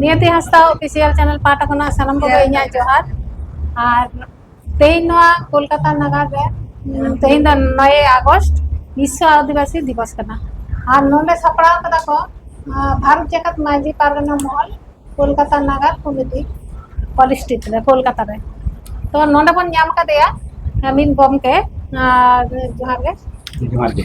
ᱱᱤᱭᱟᱹᱛᱤ ᱦᱟᱸᱥᱫᱟ official channel ᱯᱟᱦᱴᱟ ᱠᱷᱚᱱᱟᱜ ᱥᱟᱱᱟᱢ ᱠᱚᱜᱮ ᱤᱧᱟᱹᱜ ᱡᱚᱦᱟᱨ ᱟᱨ ᱛᱮᱦᱮᱧ ᱱᱚᱣᱟ ᱠᱳᱞᱠᱟᱛᱟ ᱱᱟᱜᱟᱨ ᱨᱮ ᱛᱮᱦᱮᱧ ᱫᱚ ᱱᱚᱭᱮ ᱟᱜᱚᱥᱴ ᱵᱤᱥᱥᱚ ᱟᱹᱫᱤᱵᱟᱹᱥᱤ ᱫᱤᱵᱚᱥ ᱠᱟᱱᱟ ᱟᱨ ᱱᱚᱰᱮ ᱥᱟᱯᱲᱟᱣ ᱠᱟᱫᱟ ᱠᱚ ᱵᱷᱟᱨᱚᱛ ᱡᱟᱠᱟᱛ ᱢᱟᱹᱡᱷᱤ ᱯᱟᱨᱜᱟᱱᱟ ᱢᱚᱦᱚᱞ ᱠᱳᱞᱠᱟᱛᱟ ᱱᱟᱜᱟᱨ ᱠᱚᱢᱤᱴᱤ ᱦᱚᱞ ᱥᱴᱨᱤᱴ ᱨᱮ ᱠᱳᱞᱠᱟᱛᱟ ᱨᱮ ᱛᱚ ᱱᱚᱰᱮ ᱵᱚᱱ ᱧᱟᱢ ᱠᱟᱫᱮᱭᱟ ᱟᱢᱤᱱ ᱜᱚᱢᱠᱮ ᱟᱨ ᱡᱚᱦᱟᱨ ᱜᱮ ᱡᱚᱦᱟᱨ ᱜᱮ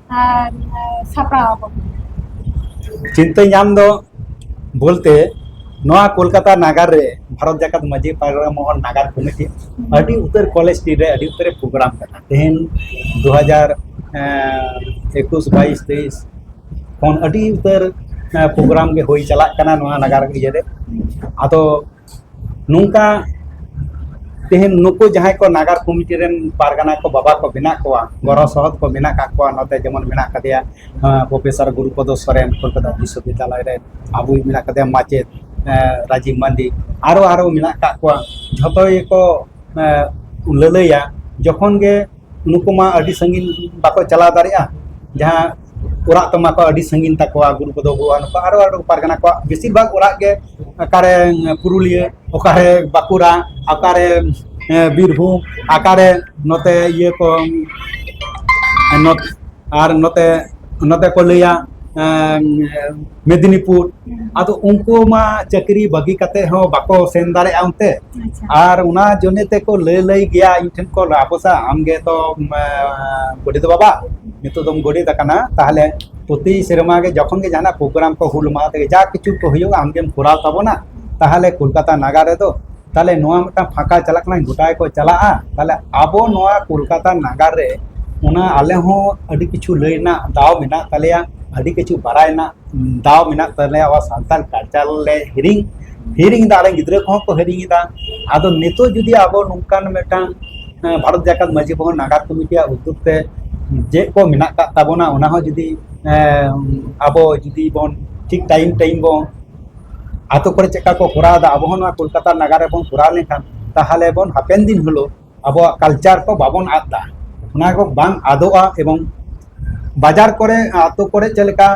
ᱥᱟᱯᱲᱟᱣ ᱟᱠᱚ ᱪᱤᱱᱛᱟᱹ ᱧᱟᱢ ᱫᱚ ᱵᱚᱞᱛᱮ ᱱᱚᱣᱟ ᱠᱳᱞᱠᱟᱛᱟ ᱱᱟᱜᱟᱨ ᱨᱮ ᱵᱷᱟᱨᱚᱛ ᱡᱟᱠᱟᱛ ᱢᱟᱹᱡᱷᱤ ᱯᱟᱲᱟ ᱢᱚᱦᱚᱞ ᱱᱟᱜᱟᱨ ᱠᱚᱢᱤᱴᱤ ᱟᱹᱰᱤ ᱩᱛᱟᱹᱨ ᱠᱚᱞᱮᱡᱽ ᱥᱴᱨᱤᱴ ᱨᱮ ᱟᱹᱰᱤ ᱩᱛᱟᱹᱨ ᱯᱨᱳᱜᱨᱟᱢ ᱠᱟᱱᱟ ᱛᱮᱦᱮᱧ ᱫᱩ ᱦᱟᱡᱟᱨ ᱮᱠᱩᱥ ᱵᱟᱭᱤᱥ ᱛᱮᱭᱤᱥ ᱠᱷᱚᱱ ᱟᱹᱰᱤ ᱩᱛᱟᱹᱨ ᱯᱨᱳᱜᱨᱟᱢ ᱜᱮ ᱦᱩᱭ ᱪᱟᱞᱟᱜ ᱠᱟᱱᱟ ᱱᱚᱣᱟ ᱱᱟᱜᱟᱨ ᱤᱭᱟᱹᱨᱮ ᱟᱫᱚ ᱱᱚᱝᱠᱟ ᱛᱮᱦᱮᱧ ᱱᱩᱠᱩ ᱡᱟᱦᱟᱸᱭ ᱠᱚ ᱱᱟᱜᱟᱨ ᱠᱚᱢᱤᱴᱤ ᱨᱮᱱ ᱯᱟᱨᱜᱟᱱᱟ ᱠᱚ ᱵᱟᱵᱟ ᱠᱚ ᱢᱮᱱᱟᱜ ᱠᱚᱣᱟ ᱜᱚᱲᱚ ᱥᱚᱦᱚᱫ ᱠᱚ ᱢᱮᱱᱟᱜ ᱠᱟᱜ ᱠᱚᱣᱟ ᱱᱚᱛᱮ ᱡᱮᱢᱚᱱ ᱢᱮᱱᱟᱜ ᱠᱟᱫᱮᱭᱟ ᱯᱨᱚᱯᱷᱮᱥᱚᱨ ᱜᱩᱨᱩᱯᱚᱫᱚ ᱥᱚᱨᱮᱱ ᱠᱳᱞᱠᱟᱛᱟ ᱵᱤᱥᱥᱚᱵᱤᱫᱽᱫᱟᱞᱚᱭ ᱨᱮ ᱟᱵᱚᱭ ᱢᱮᱱᱟᱜ ᱠᱟᱫᱮᱭᱟ ᱢᱟᱪᱮᱫ ᱨᱟᱡᱤᱵᱽ ᱢᱟᱱᱰᱤ ᱟᱨᱚ ᱟᱨᱚ ᱢᱮᱱᱟᱜ ᱠᱟᱜ ᱠᱚᱣᱟ ᱡᱷᱚᱛᱚ ᱜᱮᱠᱚ ᱞᱟᱹᱞᱟᱹᱭᱟ ᱡᱚᱠᱷᱚᱱ ᱜᱮ ᱱᱩᱠᱩ ᱢᱟ ᱟᱹᱰᱤ ᱥᱟᱺᱜᱤᱧ ᱵᱟᱠᱚ ᱪᱟᱞᱟᱣ ᱫᱟᱲᱮᱭᱟᱜᱼᱟ ᱡᱟᱦᱟᱸ ᱚᱲᱟᱜ ᱛᱟᱢᱟ ᱠᱚ ᱟᱹᱰᱤ ᱥᱟᱺᱜᱤᱧ ᱛᱟᱠᱚᱣᱟ ᱜᱩᱨᱩ ᱠᱚᱫᱚ ᱵᱚᱦᱩᱣᱟ ᱱᱩᱠᱩ ᱟᱨᱚ ᱟᱨᱚ ᱯᱟᱨᱜᱟᱱᱟ ᱠᱚᱣᱟᱜ ᱵᱮᱥᱤᱨ ᱵᱷᱟᱜᱽ ᱚᱲᱟᱜ ᱜᱮ ᱚᱠᱟᱨᱮ ᱯᱩᱨᱩᱞᱤᱭᱟᱹ ᱚᱠᱟᱨᱮ ᱵᱟᱸᱠᱩᱲᱟ ᱚᱠᱟᱨᱮ ᱵᱤᱨᱵᱷᱩᱢ ᱚᱠᱟᱨᱮ ᱱᱚᱛᱮ ᱤᱭᱟᱹ ᱠᱚ ᱟᱨ ᱱᱚᱛᱮ ᱱᱚᱛᱮ ᱠᱚ ᱞᱟᱹᱭᱟ ᱢᱮᱫᱤᱱᱤᱯᱩᱨ ᱟᱫᱚ ᱩᱱᱠᱩ ᱢᱟ ᱪᱟᱹᱠᱨᱤ ᱵᱟᱹᱜᱤ ᱠᱟᱛᱮ ᱦᱚᱸ ᱵᱟᱠᱚ ᱥᱮᱱ ᱫᱟᱲᱮᱭᱟᱜᱼᱟ ᱚᱱᱛᱮ ᱟᱨ ᱚᱱᱟ ᱡᱚᱱᱮ ᱛᱮᱠᱚ ᱞᱟᱹᱭ ᱞᱟᱹᱭ ᱜᱮᱭᱟ ᱤᱧ ᱴᱷᱮᱱ ᱠᱚ ᱟᱯᱚᱥᱟ ᱟᱢᱜᱮ ᱛᱚ ᱜᱚᱰᱮᱛ ᱵᱟᱵᱟ ᱱᱤᱛᱚᱜ ᱫᱚᱢ ᱜᱚᱰᱮᱛ ᱟᱠᱟᱱᱟ ᱛᱟᱦᱚᱞᱮ ᱯᱨᱚᱛᱤ ᱥᱮᱨᱢᱟ ᱜᱮ ᱡᱚᱠᱷᱚᱱ ᱜᱮ ᱡᱟᱦᱟᱱᱟᱜ ᱯᱨᱳᱜᱨᱟᱢ ᱠᱚ ᱦᱩᱞ ᱢᱟᱦᱟ ᱛᱮᱜᱮ ᱡᱟ ᱠᱤᱪᱷᱩ ᱠᱚ ᱦᱩᱭᱩᱜᱼᱟ ᱟᱢᱜᱮᱢ ᱠᱚᱨᱟᱣ ᱛᱟᱵᱚᱱᱟ ᱛᱟᱦᱚᱞᱮ ᱠᱳᱞᱠᱟᱛᱟ ᱱᱟᱜᱟᱨ ᱨᱮᱫᱚ ᱛᱟᱦᱚᱞᱮ ᱱᱚᱣᱟ ᱢᱤᱫᱴᱟᱝ ᱯᱷᱟᱸᱠᱟ ᱪᱟᱞᱟᱜ ᱠᱟᱱᱟ ᱜᱚᱴᱟ ᱜᱮᱠᱚ ᱪᱟᱞᱟᱜᱼᱟ ᱛᱟᱦᱚᱞᱮ ᱟᱵᱚ ᱱᱚᱣᱟ ᱠᱳᱞᱠᱟᱛᱟ ᱱᱟᱜᱟᱨ ᱨᱮ ᱚᱱᱟ ᱟᱞᱮ ᱦᱚᱸ ᱟᱹᱰᱤ ᱠᱤᱪᱷᱩ ᱞᱟᱹᱭ ᱨᱮᱱᱟᱜ ᱫᱟᱣ ᱢᱮᱱᱟᱜ ᱛᱟᱞᱮᱭᱟ ᱟᱹᱰᱤ ᱠᱤᱪᱷᱩ ᱵᱟᱲᱟᱭ ᱨᱮᱱᱟᱜ ᱫᱟᱣ ᱢᱮᱱᱟᱜ ᱛᱟᱞᱮᱭᱟ ᱟᱵᱚ ᱥᱟᱱᱛᱟᱲ ᱠᱟᱞᱪᱟᱨ ᱞᱮ ᱦᱤᱲᱤᱧ ᱦᱤᱲᱤᱧ ᱮᱫᱟ ᱟᱞᱮ ᱜᱤᱫᱽᱨᱟᱹ ᱠᱚᱦᱚᱸ ᱠᱚ ᱦᱤᱲᱤᱧ ᱮᱫᱟ ᱟᱫᱚ ᱱᱤᱛᱚᱜ ᱡᱩᱫᱤ ᱟᱵᱚ ᱱᱚᱝᱠᱟᱱ ᱢᱤᱫᱴᱟᱝ ᱵᱷᱟᱨᱚᱛ ᱡᱟᱠᱟᱛ ᱢᱟᱹᱡᱷᱤ ᱢᱚᱦᱚᱞ ᱱᱟᱜᱟᱨ ᱠᱚᱢᱤᱴᱤᱭᱟᱜ ᱩᱫᱽᱫᱳᱜᱽ ᱛᱮ ᱪᱮᱫ ᱠᱚ ᱢᱮᱱᱟᱜ ᱟᱠᱟᱫ ᱛᱟᱵᱚᱱᱟ ᱚᱱᱟ ᱦᱚᱸ ᱡᱩᱫᱤ ᱟᱵᱚ ᱡᱩᱫᱤ ᱵᱚᱱ ᱴᱷᱤᱠ ᱴᱟᱭᱤᱢ ᱴᱟᱭᱤᱢ ᱵᱚᱱ ᱟᱛᱳ ᱠᱚᱨᱮ ᱪᱮᱫᱠᱟ ᱠᱚ ᱠᱚᱨᱟᱣ ᱮᱫᱟ ᱟᱵᱚ ᱦᱚᱸ ᱱᱚᱣᱟ ᱠᱳᱞᱠᱟᱛᱟ ᱱᱟᱜᱟᱨ ᱨᱮᱵᱚᱱ ᱠᱚᱨᱟᱣ ᱞᱮᱱᱠᱷᱟᱱ ᱛᱟᱦᱚᱞᱮ ᱵᱚᱱ ᱦᱟᱯᱮᱱ ᱫᱤᱱ ᱦᱤᱞᱳᱜ ᱟᱵᱚᱣᱟᱜ ᱠᱟᱞᱪᱟᱨ ᱠᱚ ᱵᱟᱵᱚᱱ ᱟᱫ ᱫᱟ ᱚᱱᱟ ᱠᱚ ᱵᱟᱝ ᱟᱫᱚᱜᱼᱟ ᱮᱵᱚᱝ ᱵᱟᱡᱟᱨ ᱠᱚᱨᱮ ᱟᱛᱳ ᱠᱚᱨᱮ ᱪᱮᱫ ᱞᱮᱠᱟ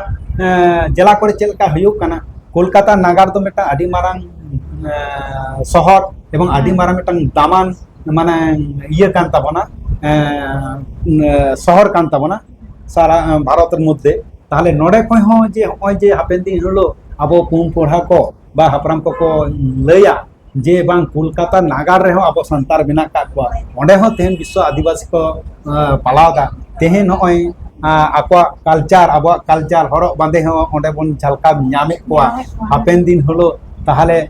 ᱡᱮᱞᱟ ᱠᱚᱨᱮ ᱪᱮᱫ ᱞᱮᱠᱟ ᱦᱩᱭᱩᱜ ᱠᱟᱱᱟ ᱠᱳᱞᱠᱟᱛᱟ ᱱᱟᱜᱟᱨ ᱫᱚ ᱢᱤᱫᱴᱟᱝ ᱟᱹᱰᱤ ᱢᱟᱨᱟᱝ ᱥᱚᱦᱚᱨ ᱮᱵᱚᱝ ᱟᱹᱰᱤ ᱢᱟᱨᱟᱝ ᱢᱤᱫᱴᱟᱝ ᱫᱟᱢᱟᱱ ᱢᱟᱱᱮ ᱤᱭᱟᱹ ᱠᱟᱱ ᱛᱟᱵᱚᱱᱟ ᱥᱚᱦᱚᱨ ᱠᱟᱱ ᱛᱟᱵᱚᱱᱟ ᱥᱟᱨᱟ ᱵᱷᱟᱨᱚᱛ ᱨᱮ ᱢᱚᱫᱽᱫᱷᱮ ᱛᱟᱦᱞᱮ ᱱᱚᱰᱮ ᱠᱷᱚᱱ ᱦᱚᱸ ᱡᱮ ᱦᱚᱸᱜᱼᱚᱭ ᱡᱮ ᱦᱟᱯᱮᱱ ᱫᱤᱱ ᱦᱤᱞᱳᱜ ᱟᱵᱚ ᱯᱩᱱ ᱯᱚᱲᱦᱟ ᱠᱚ ᱵᱟ ᱦᱟᱯᱲᱟᱢ ᱠᱚᱠᱚ ᱞᱟᱹᱭᱟ ᱡᱮ ᱵᱟᱝ ᱠᱳᱞᱠᱟᱛᱟ ᱱᱟᱜᱟᱨ ᱨᱮᱦᱚᱸ ᱟᱵᱚ ᱥᱟᱱᱛᱟᱲ ᱢᱮᱱᱟᱜ ᱠᱟᱜ ᱠᱚᱣᱟ ᱚᱸᱰᱮ ᱦᱚᱸ ᱛᱮᱦᱮᱧ ᱵᱤᱥᱥᱚ ᱟᱹᱫᱤᱵᱟᱹᱥᱤ ᱠᱚ ᱯᱟᱞᱟᱣᱫᱟ ᱛᱮᱦᱮᱧ ᱱᱚᱜᱼᱚᱭ ᱟᱠᱚᱣᱟᱜ ᱠᱟᱞᱪᱟᱨ ᱟᱵᱚᱣᱟᱜ ᱠᱟᱞᱪᱟᱨ ᱦᱚᱨᱚᱜ ᱵᱟᱸᱫᱮ ᱦᱚᱸ ᱚᱸᱰᱮ ᱵᱚᱱ ᱡᱷᱟᱞᱠᱟᱣ ᱧᱟᱢᱮᱫ ᱠᱚᱣᱟ ᱦᱟᱯᱮᱱ ᱫᱤᱱ ᱦᱤᱞᱳᱜ ᱛᱟᱦᱞᱮ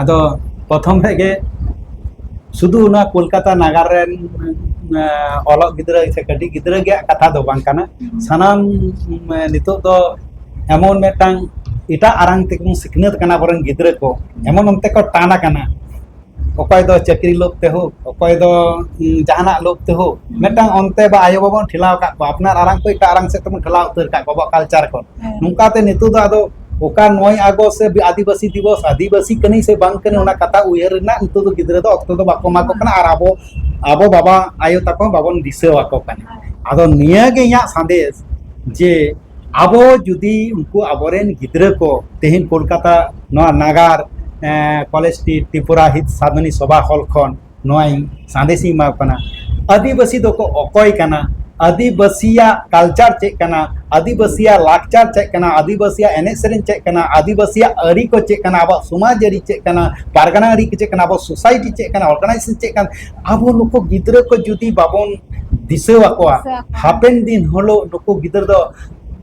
ᱟᱫᱚ ᱯᱨᱚᱛᱷᱚᱢ ᱠᱷᱚᱡ ᱜᱮ ᱥᱩᱫᱷᱩ ᱚᱱᱟ ᱠᱳᱞᱠᱟᱛᱟ ᱱᱟᱜᱟᱨ ᱨᱮᱱ ᱚᱞᱚᱜ ᱜᱤᱫᱽᱨᱟᱹ ᱥᱮ ᱠᱟᱹᱴᱤᱡ ᱜᱤᱫᱽᱨᱟᱹ ᱜᱮᱭᱟᱜ ᱠᱟᱛᱷᱟ ᱫᱚ ᱵᱟᱝ ᱠᱟᱱᱟ ᱥᱟᱱᱟᱢ ᱱᱤᱛᱚᱜ ᱫᱚ ᱮᱢᱚᱱ ᱢᱤᱫᱴᱟᱝ ᱮᱴᱟᱜ ᱟᱲᱟᱝ ᱛᱮᱵᱚᱱ ᱥᱤᱠᱷᱱᱟᱹᱛ ᱠᱟᱱᱟ ᱟᱵᱚᱨᱮᱱ ᱜᱤᱫᱽᱨᱟᱹ ᱠᱚ ᱮᱢᱚᱱ ᱚᱱᱛᱮ ᱠᱚ ᱴᱟᱱ ᱟᱠᱟᱱᱟ ᱚᱠᱚᱭ ᱫᱚ ᱪᱟᱹᱠᱨᱤ ᱞᱳᱵ ᱛᱮ ᱦᱳᱠ ᱚᱠᱚᱭ ᱫᱚ ᱡᱟᱦᱟᱱᱟᱜ ᱞᱳᱵ ᱛᱮ ᱦᱳᱠ ᱢᱤᱫᱴᱟᱝ ᱚᱱᱛᱮ ᱵᱟ ᱟᱭᱳ ᱵᱟᱵᱚᱱ ᱴᱷᱮᱞᱟᱣ ᱟᱠᱟᱫ ᱠᱚᱣᱟ ᱟᱯᱱᱟᱨ ᱟᱲᱟᱝ ᱠᱚ ᱮᱴᱟᱜ ᱟᱲᱟᱝ ᱥᱮᱫ ᱛᱮᱵᱚᱱ ᱴᱷᱮᱞᱟᱣ ᱩᱛᱟᱹᱨ ᱟᱠᱟᱫ ᱠᱚᱣᱟ ᱟᱵᱚᱣᱟᱜ ᱠᱟᱞᱪᱟᱨ ᱠᱚ ᱱᱚᱝᱠᱟᱛᱮ ᱱᱤᱛᱚᱜ ᱫᱚ ᱟᱫᱚ ᱚᱠᱟ ᱱᱚᱭ ᱟᱜᱚᱥᱴ ᱥᱮ ᱟᱹᱫᱤᱵᱟᱹᱥᱤ ᱫᱤᱵᱚᱥ ᱟᱹᱫᱤᱵᱟᱹᱥᱤ ᱠᱟᱹᱱᱟᱹᱧ ᱥᱮ ᱵᱟᱝ ᱠᱟᱹᱱᱟᱹᱧ ᱚᱱᱟ ᱠᱟᱛᱷᱟ ᱩᱭᱦᱟᱹᱨ ᱨᱮᱱᱟᱜ ᱱᱤᱛᱚᱜ ᱫᱚ ᱜᱤᱫᱽᱨᱟᱹ ᱫᱚ ᱚᱠᱛᱚ ᱫᱚ ᱵᱟᱠᱚ ᱮᱢᱟ ᱠᱚ ᱠᱟᱱᱟ ᱟᱨ ᱟᱵᱚ ᱟᱵᱚ ᱵᱟᱵᱟ ᱟᱭᱳ ᱛᱟᱠᱚ ᱵᱟᱵᱚᱱ ᱫᱤᱥᱟᱹ ᱟᱠᱚ ᱠᱟᱱᱟ ᱟᱫᱚ ᱱᱤᱭᱟᱹ ᱜᱮ ᱤᱧᱟᱹᱜ ᱥᱟᱸᱫᱮᱥ ᱡᱮ ᱟᱵᱚ ᱡᱩᱫᱤ ᱩᱱᱠᱩ ᱟᱵᱚᱨᱮᱱ ᱜᱤᱫᱽᱨᱟᱹ ᱠᱚ ᱛᱮᱦᱮᱧ ᱠᱳᱞᱠᱟᱛᱟ ᱱᱚᱣᱟ ᱱᱟᱜᱟᱨ ᱠᱚᱞᱮᱡᱽ ᱥᱴᱨᱤᱴ ᱛᱨᱤᱯᱩᱨᱟ ᱦᱤᱛ ᱥᱟᱫᱷᱚᱱᱤ ᱥᱚᱵᱷᱟ ᱦᱚᱞ ᱠᱷᱚᱱ ᱱᱚᱣᱟᱧ ᱥᱟᱸᱫᱮᱥ ᱤᱧ ᱮᱢᱟᱣ ᱠᱟᱱᱟ ᱟᱹᱫᱤᱵᱟᱹᱥᱤ ᱫᱚᱠᱚ ᱚᱠᱚᱭ ᱠᱟᱱᱟ ᱟᱹᱫᱤᱵᱟᱹᱥᱤᱭᱟᱜ ᱠᱟᱞᱪᱟᱨ ᱪᱮᱫ ᱠᱟᱱᱟ ᱟᱹᱫᱤᱵᱟᱹᱥᱤᱭᱟᱜ ᱞᱟᱠᱪᱟᱨ ᱪᱮᱫ ᱠᱟᱱᱟ ᱟᱹᱫᱤᱵᱟᱹᱥᱤᱭᱟᱜ ᱮᱱᱮᱡ ᱥᱮᱨᱮᱧ ᱪᱮᱫ ᱠᱟᱱᱟ ᱟᱹᱫᱤᱵᱟᱹᱥᱤᱭᱟᱜ ᱟᱹᱨᱤ ᱠᱚ ᱪᱮᱫ ᱠᱟᱱᱟ ᱟᱵᱚᱣᱟᱜ ᱥᱚᱢᱟᱡᱽ ᱟᱹᱨᱤ ᱪᱮᱫ ᱠᱟᱱᱟ ᱯᱟᱨᱜᱟᱱᱟ ᱟᱹᱨᱤ ᱠᱚ ᱪᱮᱫ ᱠᱟᱱᱟ ᱟᱵᱚ ᱥᱳᱥᱟᱭᱴᱤ ᱪᱮᱫ ᱠᱟᱱᱟ ᱚᱨᱜᱟᱱᱟᱭᱡᱮᱥᱚᱱ ᱪᱮᱫ ᱠᱟᱱᱟ ᱟᱵᱚ ᱱᱩᱠᱩ ᱜᱤᱫᱽᱨᱟᱹ ᱠᱚ ᱡᱩᱫᱤ ᱵᱟᱵᱚᱱ ᱫᱤᱥᱟᱹ ᱟᱠᱚᱣᱟ ᱦᱟᱯᱮᱱ ᱫᱤᱱ ᱦᱤᱞᱳᱜ ᱱᱩᱠᱩ ᱜᱤᱫᱽᱨᱟᱹ ᱫᱚ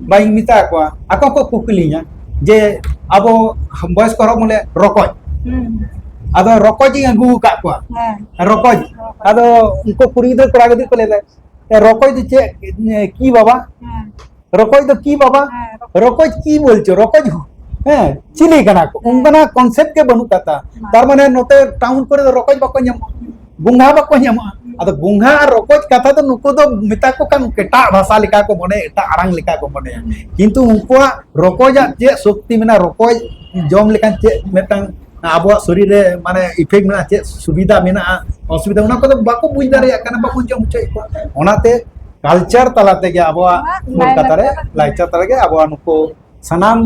ᱵᱟᱹᱧ ᱢᱮᱛᱟ ᱠᱚᱣᱟ ᱟᱠᱚ ᱠᱚ ᱠᱩᱠᱞᱤᱧᱟ ᱡᱮ ᱟᱵᱚ ᱵᱚᱭᱚᱥ ᱠᱚ ᱦᱚᱲ ᱵᱚᱞᱮ ᱨᱚᱠᱚᱡ ᱟᱫᱚ ᱨᱚᱠᱚᱡ ᱤᱧ ᱟᱹᱜᱩ ᱟᱠᱟᱫ ᱠᱚᱣᱟ ᱨᱚᱠᱚᱡ ᱟᱫᱚ ᱩᱱᱠᱩ ᱠᱩᱲᱤ ᱜᱤᱫᱽᱨᱟᱹ ᱠᱚᱲᱟ ᱜᱤᱫᱽᱨᱟᱹ ᱠᱚ ᱞᱟᱹᱭᱫᱟ ᱨᱚᱠᱚᱡ ᱫᱚ ᱪᱮᱫ ᱠᱤ ᱵᱟᱵᱟ ᱨᱚᱠᱚᱡ ᱫᱚ ᱠᱤ ᱵᱟᱵᱟ ᱨᱚᱠᱚᱡ ᱠᱤ ᱵᱚᱞᱪᱚ ᱨᱚᱠᱚᱡ ᱦᱚᱸ ᱦᱮᱸ ᱪᱤᱞᱤ ᱠᱟᱱᱟ ᱠᱚ ᱚᱱᱠᱟᱱᱟᱜ ᱠᱚᱱᱥᱮᱯᱴ ᱜᱮ ᱵᱟᱹᱱᱩᱜ ᱠᱟᱫᱟ ᱛᱟᱨ ᱢᱟᱱᱮ ᱱᱚᱛᱮ ᱴᱟᱣᱩᱱ ᱠᱚᱨᱮ ᱫᱚ ᱨᱚᱠᱚᱡ ᱵᱟᱠᱚ ᱧᱟᱢᱚᱜᱼᱟ ᱵᱚᱸᱜᱟ ᱵᱟᱠᱚ ᱧᱟᱢᱚᱜᱼᱟ ᱟᱫᱚ ᱵᱚᱸᱜᱟ ᱟᱨ ᱨᱚᱠᱚᱡ ᱠᱟᱛᱷᱟ ᱫᱚ ᱱᱩᱠᱩ ᱫᱚ ᱢᱮᱛᱟ ᱠᱚ ᱠᱷᱟᱱ ᱮᱴᱟᱜ ᱵᱷᱟᱥᱟ ᱞᱮᱠᱟ ᱠᱚ ᱢᱚᱱᱮ ᱮᱴᱟᱜ ᱟᱲᱟᱝ ᱞᱮᱠᱟ ᱠᱚ ᱢᱚᱱᱮᱭᱟ ᱠᱤᱱᱛᱩ ᱩᱱᱠᱩᱣᱟᱜ ᱨᱚᱠᱚᱡᱟᱜ ᱪᱮᱫ ᱥᱚᱠᱛᱤ ᱢᱮᱱᱟᱜᱼᱟ ᱨᱚᱠᱚᱡ ᱡᱚᱢ ᱞᱮᱠᱷᱟᱱ ᱪᱮᱫ ᱢᱤᱫᱴᱟᱝ ᱟᱵᱚᱣᱟᱜ ᱥᱚᱨᱤᱨ ᱨᱮ ᱢᱟᱱᱮ ᱤᱯᱷᱮᱠᱴ ᱢᱮᱱᱟᱜᱼᱟ ᱪᱮᱫ ᱥᱩᱵᱤᱫᱷᱟ ᱢᱮᱱᱟᱜᱼᱟ ᱚᱥᱩᱵᱤᱫᱷᱟ ᱚᱱᱟ ᱠᱚᱫᱚ ᱵᱟᱠᱚ ᱵᱩᱡᱽ ᱫᱟᱲᱮᱭᱟᱜ ᱠᱟᱱᱟ ᱵᱟᱠᱚ ᱡᱚᱢ ᱦᱚᱪᱚᱭᱮᱫ ᱠᱚᱣᱟ ᱚᱱᱟᱛᱮ ᱠᱟᱞᱪᱟᱨ ᱛᱟᱞᱟ ᱛᱮᱜᱮ ᱟᱵᱚᱣᱟᱜ ᱠᱳᱞᱠᱟᱛᱟ ᱨᱮ ᱞᱟᱠᱪᱟᱨ ᱛᱟᱞᱟ ᱛᱮᱜᱮ ᱟᱵᱚᱣᱟᱜ ᱱᱩᱠᱩ ᱥᱟᱱᱟᱢ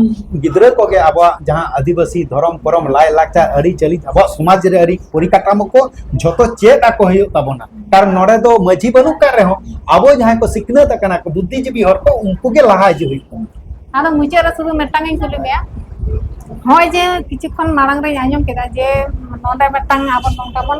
ᱜᱤᱫᱽᱨᱟᱹ ᱠᱚᱜᱮ ᱟᱵᱚᱣᱟᱜ ᱡᱟᱦᱟᱸ ᱟᱹᱫᱤᱵᱟᱹᱥᱤ ᱫᱷᱚᱨᱚᱢ ᱠᱚᱨᱚᱢ ᱞᱟᱭ ᱞᱟᱠᱪᱟᱨ ᱟᱹᱨᱤ ᱪᱟᱹᱞᱤ ᱟᱵᱚᱣᱟᱜ ᱥᱚᱢᱟᱡᱽ ᱨᱮ ᱟᱹᱨᱤ ᱯᱚᱨᱤᱠᱟᱴᱟᱢᱚ ᱠᱚ ᱡᱷᱚᱛᱚ ᱪᱮᱫ ᱟᱠᱚ ᱦᱩᱭᱩᱜ ᱛᱟᱵᱚᱱᱟ ᱠᱟᱨᱚᱱ ᱱᱚᱰᱮ ᱫᱚ ᱢᱟᱹᱡᱷᱤ ᱵᱟᱹᱱᱩᱜ ᱠᱟᱜ ᱨᱮᱦᱚᱸ ᱟᱵᱚ ᱡᱟᱦᱟᱸᱭ ᱠᱚ ᱥᱤᱠᱷᱱᱟᱹᱛ ᱟᱠᱟᱱᱟ ᱠᱚ ᱵᱩᱫᱽᱫᱷᱤᱡᱤᱵᱤ ᱦᱚᱲ ᱠᱚ ᱩᱱᱠᱩ ᱜᱮ ᱞᱟᱦᱟ ᱦᱤᱡᱩᱜ ᱦᱩᱭᱩᱜ ᱛᱟᱵᱚᱱᱟ ᱟᱫᱚ ᱢᱩᱪᱟᱹᱫ ᱨᱮ ᱥᱩᱫᱷᱩ ᱢᱤᱫᱴᱟᱝ ᱤᱧ ᱠᱩᱞᱤ ᱢᱮᱭᱟ ᱦᱚᱸᱜᱼᱚᱭ ᱡᱮ ᱠᱤᱪᱷᱩ ᱠᱷᱚᱱ ᱢᱟᱲᱟᱝ ᱨᱮᱧ ᱟᱸᱡᱚᱢ ᱠᱮᱫᱟ ᱡᱮ ᱱᱚᱰᱮ ᱢᱤᱫᱴᱟᱝ ᱟᱵᱚ ᱱᱚᱝᱠᱟ ᱵᱚᱱ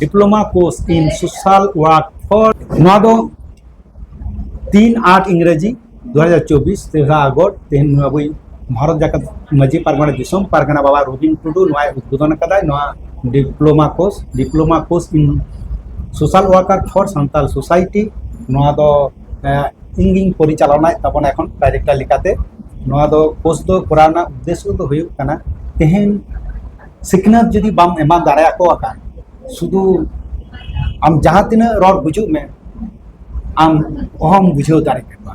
diploma course in social work for ᱱᱚᱣᱟ ᱫᱚ ᱛᱤᱱ ᱟᱴ ᱤᱝᱨᱮᱡᱤ ᱫᱩ ᱦᱟᱡᱟᱨ ᱪᱚᱵᱵᱤᱥ ᱛᱮᱨᱟ ᱟᱜᱚᱥᱴ ᱛᱮᱦᱮᱧ ᱱᱚᱣᱟ ᱵᱚᱭ ᱵᱷᱟᱨᱚᱛ ᱡᱟᱠᱟᱛ ᱢᱟᱹᱡᱷᱤ ᱯᱟᱨᱜᱟᱱᱟ ᱫᱤᱥᱚᱢ ᱯᱟᱨᱜᱟᱱᱟ ᱵᱟᱵᱟ ᱨᱚᱵᱤᱱ ᱴᱩᱰᱩ ᱱᱚᱣᱟᱭ ᱩᱫᱽᱵᱳᱫᱚᱱ ᱟᱠᱟᱫᱟᱭ ᱱᱚᱣᱟ diploma course diploma course in social worker for Santal society ᱱᱚᱣᱟ ᱫᱚ ᱤᱧᱜᱤᱧ ᱯᱚᱨᱤᱪᱟᱞᱚᱱᱟᱭᱮᱫ ᱛᱟᱵᱚᱱᱟ ᱮᱠᱷᱚᱱ ᱰᱟᱭᱨᱮᱠᱴᱚᱨ ᱞᱮᱠᱟᱛᱮ ᱱᱚᱣᱟ ᱫᱚ ᱠᱳᱨᱥ ᱫᱚ ᱠᱚᱨᱟᱣ ᱨᱮᱱᱟᱜ ᱩᱫᱽᱫᱮᱥᱥᱚ ᱫᱚ ᱦᱩᱭᱩᱜ ᱠᱟᱱᱟ ᱛᱮᱦᱮᱧ ᱥᱤᱠᱷᱱᱟᱹᱛ ᱡᱩᱫᱤ ᱵᱟᱢ ᱮᱢᱟ ᱫᱟᱲᱮᱭᱟᱠᱚ ᱠᱷᱟᱱ ᱥᱩᱫᱷᱩ ᱟᱢ ᱡᱟᱦᱟᱸ ᱛᱤᱱᱟᱹᱜ ᱨᱚᱲ ᱵᱩᱡᱩᱜ ᱢᱮ ᱟᱢ ᱚᱦᱚᱢ ᱵᱩᱡᱷᱟᱹᱣ ᱫᱟᱲᱮ ᱠᱮᱠᱚᱣᱟ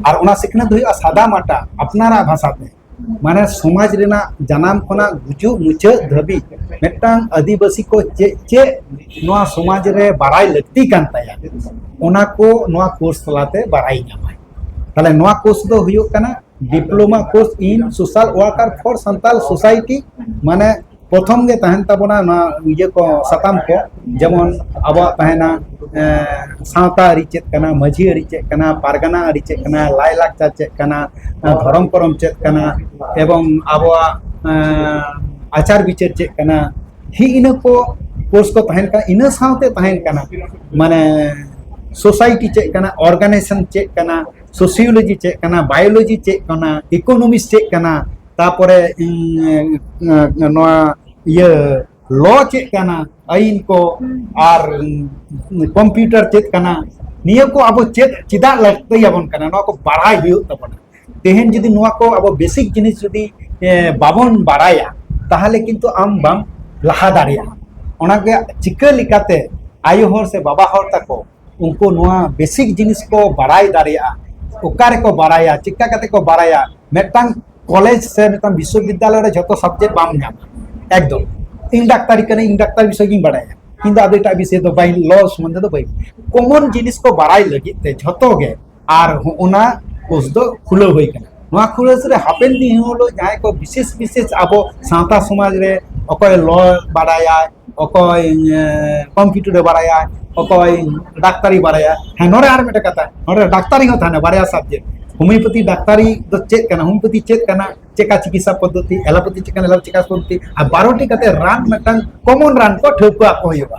ᱟᱨ ᱚᱱᱟ ᱥᱤᱠᱷᱱᱟᱹᱛ ᱫᱚ ᱦᱩᱭᱩᱜᱼᱟ ᱥᱟᱫᱟ ᱢᱟᱴᱟ ᱟᱯᱱᱟᱨᱟᱜ ᱵᱷᱟᱥᱟ ᱛᱮ ᱢᱟᱱᱮ ᱥᱚᱢᱟᱡᱽ ᱨᱮᱱᱟᱜ ᱡᱟᱱᱟᱢ ᱠᱷᱚᱱᱟᱜ ᱜᱩᱡᱩᱜ ᱢᱩᱪᱟᱹᱫ ᱫᱷᱟᱹᱵᱤᱡ ᱢᱤᱫᱴᱟᱝ ᱟᱹᱫᱤᱵᱟᱹᱥᱤ ᱠᱚ ᱪᱮᱫ ᱪᱮᱫ ᱱᱚᱣᱟ ᱥᱚᱢᱟᱡᱽ ᱨᱮ ᱵᱟᱲᱟᱭ ᱞᱟᱹᱠᱛᱤ ᱠᱟᱱ ᱛᱟᱭᱟ ᱚᱱᱟ ᱠᱚ ᱱᱚᱣᱟ ᱠᱳᱨᱥ ᱛᱟᱞᱟᱛᱮ ᱵᱟᱲᱟᱭ ᱧᱟᱢᱟᱭ ᱛᱟᱦᱞᱮ ᱱᱚᱣᱟ ᱠᱳᱨᱥ ᱫᱚ ᱦᱩᱭᱩᱜ ᱠᱟᱱᱟ diploma course in social worker for Santal society ᱢᱟᱱᱮ ᱯᱨᱚᱛᱷᱚᱢ ᱜᱮ ᱛᱟᱦᱮᱱ ᱛᱟᱵᱚᱱᱟ ᱱᱚᱣᱟ ᱤᱭᱟᱹ ᱠᱚ ᱥᱟᱛᱟᱢ ᱠᱚ ᱡᱮᱢᱚᱱ ᱟᱵᱚᱣᱟᱜ ᱛᱟᱦᱮᱱᱟ ᱥᱟᱶᱛᱟ ᱟᱹᱨᱤ ᱪᱮᱫ ᱠᱟᱱᱟ ᱢᱟᱹᱡᱷᱤ ᱟᱹᱨᱤ ᱪᱮᱫ ᱠᱟᱱᱟ ᱯᱟᱨᱜᱟᱱᱟ ᱟᱹᱨᱤ ᱪᱮᱫ ᱠᱟᱱᱟ ᱞᱟᱭᱞᱟᱠᱪᱟᱨ ᱪᱮᱫ ᱠᱟᱱᱟ ᱫᱷᱚᱨᱚᱢ ᱠᱚᱨᱚᱢ ᱪᱮᱫ ᱠᱟᱱᱟ ᱮᱵᱚᱝ ᱟᱵᱚᱣᱟᱜ ᱟᱪᱟᱨ ᱵᱤᱪᱟᱹᱨ ᱪᱮᱫ ᱠᱟᱱᱟ ᱦᱤ ᱤᱱᱟᱹ ᱠᱚ ᱠᱳᱨᱥ ᱠᱚ ᱛᱟᱦᱮᱱ ᱠᱟᱱᱟ ᱤᱱᱟᱹ ᱥᱟᱶᱛᱮ ᱛᱟᱦᱮᱱ ᱠᱟᱱᱟ ᱢᱟᱱᱮ ᱥᱳᱥᱟᱭᱴᱤ ᱪᱮᱫ ᱠᱟᱱᱟ ᱚᱨᱜᱟᱱᱟᱭᱡᱮᱥᱚᱱ ᱪᱮᱫ ᱠᱟᱱᱟ ᱥᱳᱥᱤᱭᱳᱞᱚᱡᱤ ᱪᱮᱫ ᱠᱟᱱᱟ ᱵᱟᱭᱳᱞᱚᱡᱤ ᱪᱮᱫ ᱠᱟᱱᱟ ᱤᱠᱳᱱᱚᱢᱤᱠᱥ ᱪᱮᱫ ᱠᱟᱱᱟ ᱛᱟᱯᱚᱨᱮ ᱱᱚᱣᱟ ᱤᱭᱟᱹ ᱞᱚ ᱪᱮᱫ ᱠᱟᱱᱟ ᱟᱹᱭᱤᱱ ᱠᱚ ᱟᱨ ᱠᱚᱢᱯᱤᱭᱩᱴᱟᱨ ᱪᱮᱫ ᱠᱟᱱᱟ ᱱᱤᱭᱟᱹ ᱠᱚ ᱟᱵᱚ ᱪᱮᱫ ᱪᱮᱫᱟᱜ ᱞᱟᱹᱠᱛᱤᱭᱟᱵᱚᱱ ᱠᱟᱱᱟ ᱱᱚᱣᱟ ᱠᱚ ᱵᱟᱲᱟᱭ ᱦᱩᱭᱩᱜ ᱛᱟᱵᱚᱱᱟ ᱛᱮᱦᱮᱧ ᱡᱩᱫᱤ ᱱᱚᱣᱟ ᱠᱚ ᱟᱵᱚ ᱵᱮᱥᱤᱠ ᱡᱤᱱᱤᱥ ᱡᱩᱫᱤ ᱵᱟᱵᱚᱱ ᱵᱟᱲᱟᱭᱟ ᱛᱟᱦᱚᱞᱮ ᱠᱤᱱᱛᱩ ᱟᱢ ᱵᱟᱢ ᱞᱟᱦᱟ ᱫᱟᱲᱮᱭᱟᱜᱼᱟ ᱚᱱᱟᱜᱮ ᱪᱤᱠᱟᱹ ᱞᱮᱠᱟᱛᱮ ᱟᱭᱳ ᱦᱚᱲ ᱥᱮ ᱵᱟᱵᱟ ᱦᱚᱲ ᱛᱟᱠᱚ ᱩᱱᱠᱩ ᱱᱚᱣᱟ ᱵᱮᱥᱤᱠ ᱡᱤᱱᱤᱥ ᱠᱚ ᱵᱟᱲᱟᱭ ᱫᱟᱲᱮᱭᱟᱜᱼᱟ ᱚᱠᱟ ᱨᱮᱠᱚ ᱵᱟᱲᱟᱭᱟ ᱪᱮᱠᱟ ᱠᱟᱛᱮ ᱠᱚ ᱵᱟᱲᱟᱭᱟ ᱢᱤᱫᱴᱟᱝ ᱠᱚᱞᱮᱡᱽ ᱥᱮ ᱢᱤᱫᱴᱟᱝ ᱵᱤᱥᱥᱚᱵᱤᱫᱽᱫᱟᱞᱚᱭ ᱨᱮ ᱡᱷᱚᱛᱚ ᱥᱟᱵᱡᱮᱠᱴ ᱵᱟᱢ ᱧᱟᱢᱟ ᱮᱠᱫᱚᱢ ᱤᱧ ᱰᱟᱠᱛᱟᱨᱤ ᱠᱟᱹᱱᱟᱹᱧ ᱤᱧ ᱰᱟᱠᱛᱟᱨ ᱵᱤᱥᱚᱭ ᱜᱤᱧ ᱵᱟᱲᱟᱭᱟ ᱤᱧ ᱫᱚ ᱟᱫᱚ ᱮᱴᱟᱜ ᱵᱤᱥᱚᱭ ᱫᱚ ᱵᱟᱹᱧ ᱞᱚ ᱥᱚᱢᱚᱱᱫᱷᱮ ᱫᱚ ᱵᱟᱹᱧ ᱠᱚᱢᱚᱱ ᱡᱤᱱᱤᱥ ᱠᱚ ᱵᱟᱲᱟᱭ ᱞᱟᱹᱜᱤᱫ ᱛᱮ ᱡᱷᱚᱛᱚ ᱜᱮ ᱟᱨ ᱦᱚᱸᱜᱼᱚᱱᱟ ᱠᱳᱥ ᱫᱚ ᱠᱷᱩᱞᱟᱹᱣ ᱦᱩᱭ ᱠᱟᱱᱟ ᱱᱚᱣᱟ ᱠᱷᱩᱞᱟᱹᱣ ᱨᱮ ᱦᱟᱯᱮᱱ ᱫᱤᱱ ᱦᱤᱞᱳᱜ ᱡᱟᱦᱟᱸᱭ ᱠᱚ ᱵᱤᱥᱮᱥ ᱵᱤᱥᱮᱥ ᱟᱵᱚ ᱥᱟᱶᱛᱟ ᱥᱚᱢᱟᱡᱽ ᱨᱮ ᱚᱠᱚᱭ ᱞᱚ ᱵᱟᱲᱟᱭᱟᱭ ᱚᱠᱚᱭ ᱠᱚᱢᱯᱤᱭᱩᱴᱟᱨᱮ ᱵᱟᱲᱟᱭᱟ ᱚᱠᱚᱭ ᱰᱟᱠᱛᱟᱨᱤ ᱵᱟᱲᱟᱭᱟ ᱦᱮᱸ ᱱᱚᱰᱮ ᱟᱨ ᱢᱤᱫᱴᱮᱱ ᱠᱟᱛᱷᱟ ᱱᱚᱰᱮ ᱰᱟᱠᱛᱟᱨᱤ ᱦᱚᱸ ᱛᱟᱦᱮᱱᱟ ᱵᱟᱨᱭᱟ ᱥᱟᱵᱡᱮᱠᱴ ᱦᱳᱢᱤᱭᱳᱯᱮᱛᱷᱤ ᱰᱟᱠᱛᱟᱨᱤ ᱫᱚ ᱪᱮᱫ ᱠᱟᱱᱟ ᱦᱳᱢᱤᱭᱳᱯᱮᱛᱷᱤ ᱪᱮᱫ ᱠᱟᱱᱟ ᱪᱮᱠᱟ ᱪᱤᱠᱤᱛᱥᱟ ᱯᱚᱫᱽᱫᱷᱚᱛᱤ ᱮᱞᱳᱯᱮᱛᱷᱤ ᱪᱮᱫ ᱠᱟᱱᱟ ᱮᱞᱳᱯᱮᱛᱷᱤ ᱪᱤᱠᱤᱛᱥᱟ ᱯᱚᱫᱽᱫᱷᱚᱛᱤ ᱟᱨ ᱵᱟᱨᱚᱴᱤ ᱠᱟᱛᱮ ᱨᱟᱱ ᱢᱤᱫᱴᱟᱝ ᱠᱚᱢᱚᱱ ᱨᱟᱱ ᱠᱚ ᱴᱷᱟᱹᱣᱠᱟᱹ ᱟᱠᱚ ᱦᱩᱭᱩᱜᱼᱟ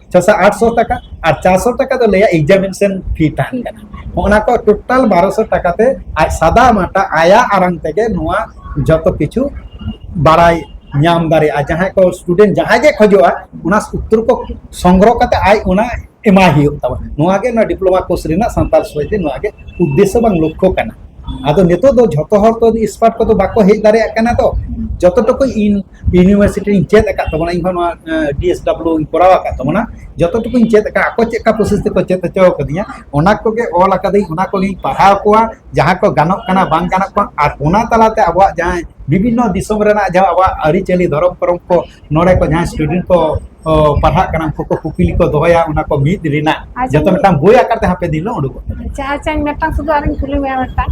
ᱪᱷᱚᱥᱚ ᱟᱴᱥᱚ ᱴᱟᱠᱟ ᱟᱨ ᱪᱟᱨᱥᱚ ᱴᱟᱠᱟ ᱫᱚ ᱞᱟᱹᱭᱟ ᱮᱠᱡᱟᱢᱤᱱᱮᱥᱚᱱ ᱯᱷᱤ ᱛᱟᱦᱮᱱ ᱠᱟᱱᱟ ᱚᱱᱟ ᱠᱚ ᱴᱳᱴᱟᱞ ᱵᱟᱨᱚᱥᱚ ᱴᱟᱠᱟ ᱛᱮ ᱟᱡ ᱥᱟᱫᱟ ᱢᱟᱴᱟ ᱟᱭᱟᱜ ᱟᱨᱟᱝ ᱛᱮᱜᱮ ᱱᱚᱣᱟ ᱡᱚᱛᱚ ᱠᱤᱪᱷᱩ ᱵᱟᱲᱟᱭ ᱧᱟᱢ ᱫᱟᱲᱮᱭᱟᱜᱼᱟ ᱡᱟᱦᱟᱸᱭ ᱠᱚ ᱥᱴᱩᱰᱮᱱᱴ ᱡᱟᱦᱟᱸᱭ ᱜᱮ ᱠᱷᱚᱡᱚᱜᱼᱟ ᱚᱱᱟ ᱩᱛᱛᱚᱨ ᱠᱚ ᱥᱚᱝᱜᱨᱚᱦ ᱠᱟᱛᱮ ᱟᱡ ᱚᱱᱟ ᱮᱢᱟᱭ ᱦᱩᱭᱩᱜ ᱛᱟᱵᱚᱱ ᱱᱚᱣᱟ ᱜᱮ ᱱᱚᱣᱟ ᱰᱤᱯᱞᱳᱢᱟ ᱠᱳᱨᱥ ᱨᱮᱱᱟᱜ ᱥᱟᱱᱛᱟᱲ ᱥᱚᱢᱟᱡᱽ ᱨᱮ ᱱᱚᱣᱟ ᱜᱮ ᱩᱫᱽᱫᱮᱥᱥᱚ ᱵᱟᱝ ᱞᱚᱠᱠᱷᱚ ᱠᱟᱱᱟ ᱟᱫᱚ ᱱᱤᱛᱚᱜ ᱫᱚ ᱡᱷᱚᱛᱚ ᱦᱚᱲ ᱛᱚ ᱮᱠᱥᱯᱟᱨᱴ ᱠᱚᱫᱚ ᱵᱟᱠᱚ ᱦᱮᱡ ᱫᱟᱲᱮᱭᱟᱜ ᱠᱟᱱᱟ ᱛᱚ ᱡᱚᱛᱚ ᱴᱩᱠᱩ ᱤᱧ ᱤᱭᱩᱱᱤᱵᱷᱟᱨᱥᱤᱴᱤ ᱨᱤᱧ ᱪᱮᱫ ᱟᱠᱟᱫ ᱛᱟᱵᱚᱱᱟ ᱤᱧ ᱦᱚᱸ ᱱᱚᱣᱟ ᱰᱤ ᱮᱥ ᱰᱟᱵᱞᱤᱭᱩ ᱤᱧ ᱠᱚᱨᱟᱣ ᱟᱠᱟᱫ ᱛᱟᱵᱚᱱᱟ ᱡᱚᱛᱚ ᱴᱩᱠᱩᱧ ᱪᱮᱫ ᱟᱠᱟᱫ ᱟᱠᱚ ᱪᱮᱫ ᱞᱮᱠᱟ ᱯᱨᱚᱥᱮᱥ ᱛᱮᱠᱚ ᱪᱮᱫ ᱦᱚᱪᱚ ᱟᱠᱟᱫᱤᱧᱟ ᱚᱱᱟ ᱠᱚᱜᱮ ᱚᱞ ᱟᱠᱟᱫᱟᱹᱧ ᱚᱱᱟ ᱠᱚᱜᱮᱧ ᱯᱟᱲᱦᱟᱣ ᱠᱚᱣᱟ ᱡᱟᱦᱟᱸ ᱠᱚ ᱜᱟᱱᱚᱜ ᱠᱟᱱᱟ ᱵᱟᱝ ᱜᱟᱱᱚᱜ ᱠᱟᱱᱟ ᱟᱨ ᱚᱱᱟ ᱛᱟᱞᱟᱛᱮ ᱟᱵᱚᱣᱟᱜ ᱡᱟᱦᱟᱸ ᱵᱤᱵᱷᱤᱱᱱᱚ ᱫᱤᱥᱚᱢ ᱨᱮᱱᱟᱜ ᱡᱟᱦᱟᱸ ᱟᱵᱚᱣᱟᱜ ᱟᱹᱨᱤᱪᱟᱹᱞᱤ ᱫᱷᱚᱨᱚᱢ ᱠᱚᱨᱚᱢ ᱠᱚ ᱱᱚᱰᱮ ᱠᱚ ᱡᱟᱦᱟᱸ ᱥᱴᱩᱰᱮᱱᱴ ᱠᱚ ᱯᱟᱲᱦᱟᱜ ᱠᱟᱱᱟ ᱩᱱᱠᱩ ᱠᱚ ᱠᱩᱠᱞᱤ ᱠᱚ ᱫᱚᱦᱚᱭᱟ ᱚᱱᱟ ᱠᱚ ᱢᱤᱫ ᱨᱮᱱᱟᱜ ᱡᱚᱛᱚ ᱢᱤᱫᱴᱟᱝ ᱵᱳᱭ ᱟᱠᱟᱨ ᱛᱮ ᱦᱟᱯᱮ ᱫᱤᱱ ᱦᱤᱞᱳᱜ ᱩᱰᱩᱠᱚᱜ ᱟᱪᱪᱷᱟ ᱟᱪᱪᱷᱟ ᱢᱤᱫᱴᱟᱝ ᱥᱩᱫᱷᱩ ᱟᱨᱤᱧ ᱠᱩᱞᱤ ᱢᱮᱭᱟ ᱢᱤᱫᱴᱟᱝ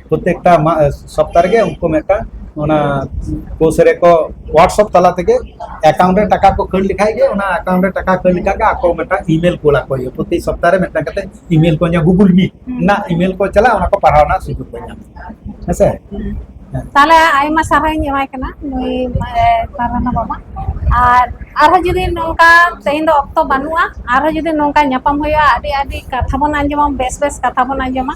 ᱯᱨᱚᱛᱮᱠᱴᱟ ᱥᱚᱯᱛᱟ ᱨᱮᱜᱮ ᱩᱱᱠᱩ ᱢᱤᱫᱴᱟᱝ ᱚᱱᱟ ᱠᱳᱥ ᱨᱮᱠᱚ ᱦᱳᱣᱟᱴᱥᱚᱯ ᱛᱟᱞᱟ ᱛᱮᱜᱮ ᱮᱠᱟᱣᱩᱱᱴ ᱨᱮ ᱴᱟᱠᱟ ᱠᱚ ᱠᱷᱟᱹᱲ ᱞᱮᱠᱷᱟᱡ ᱜᱮ ᱚᱱᱟ ᱮᱠᱟᱣᱩᱱᱴ ᱨᱮ ᱴᱟᱠᱟ ᱠᱷᱟᱹᱲ ᱞᱮᱠᱷᱟᱡ ᱜᱮ ᱟᱠᱚ ᱢᱤᱫᱴᱟᱝ ᱤᱢᱮᱞ ᱠᱳᱞ ᱟᱠᱚ ᱦᱩᱭᱩᱜᱼᱟ ᱯᱨᱚᱛᱮ ᱥᱚᱯᱛᱟ ᱨᱮ ᱢᱤᱫᱴᱟᱝ ᱠᱟᱛᱮ ᱤᱢᱮᱞ ᱠᱚ ᱧᱟᱢᱟ ᱜᱩᱜᱩᱞ ᱢᱤᱴ ᱨᱮᱱᱟᱜ ᱤᱢᱮᱞ ᱠᱚ ᱪᱟᱞᱟᱜᱼᱟ ᱚᱱᱟ ᱠᱚ ᱯᱟᱲᱦᱟᱣ ᱨᱮᱱᱟᱜ ᱥᱩᱡᱳᱜᱽ ᱠᱚ ᱧᱟᱢᱟ ᱦᱮᱸᱥᱮ ᱛᱟᱦᱞᱮ ᱟᱭᱢᱟ ᱥᱟᱨᱦᱟᱣᱤᱧ ᱮᱢᱟᱭ ᱠᱟᱱᱟ ᱱᱩᱭ ᱯᱟᱨᱟᱱᱟ ᱵᱟᱵᱟ ᱟᱨ ᱟᱨᱦᱚᱸ ᱡᱩᱫᱤ ᱱᱚᱝᱠᱟ ᱛᱮᱦᱮᱧ ᱫᱚ ᱚᱠᱛᱚ ᱵᱟᱹᱱᱩᱜᱼᱟ ᱟᱨᱦᱚᱸ ᱡᱩᱫᱤ ᱱᱚᱝᱠᱟ ᱧᱟᱯᱟᱢ ᱦᱩᱭᱩᱜᱼᱟ ᱟᱹᱰᱤ ᱟᱹᱰᱤ ᱠᱟᱛᱷᱟ ᱵᱚᱱ ᱟᱸᱡᱚᱢᱟ ᱵᱮᱥ ᱵᱮᱥ ᱠᱟᱛᱷᱟ ᱵᱚᱱ ᱟᱸᱡᱚᱢᱟ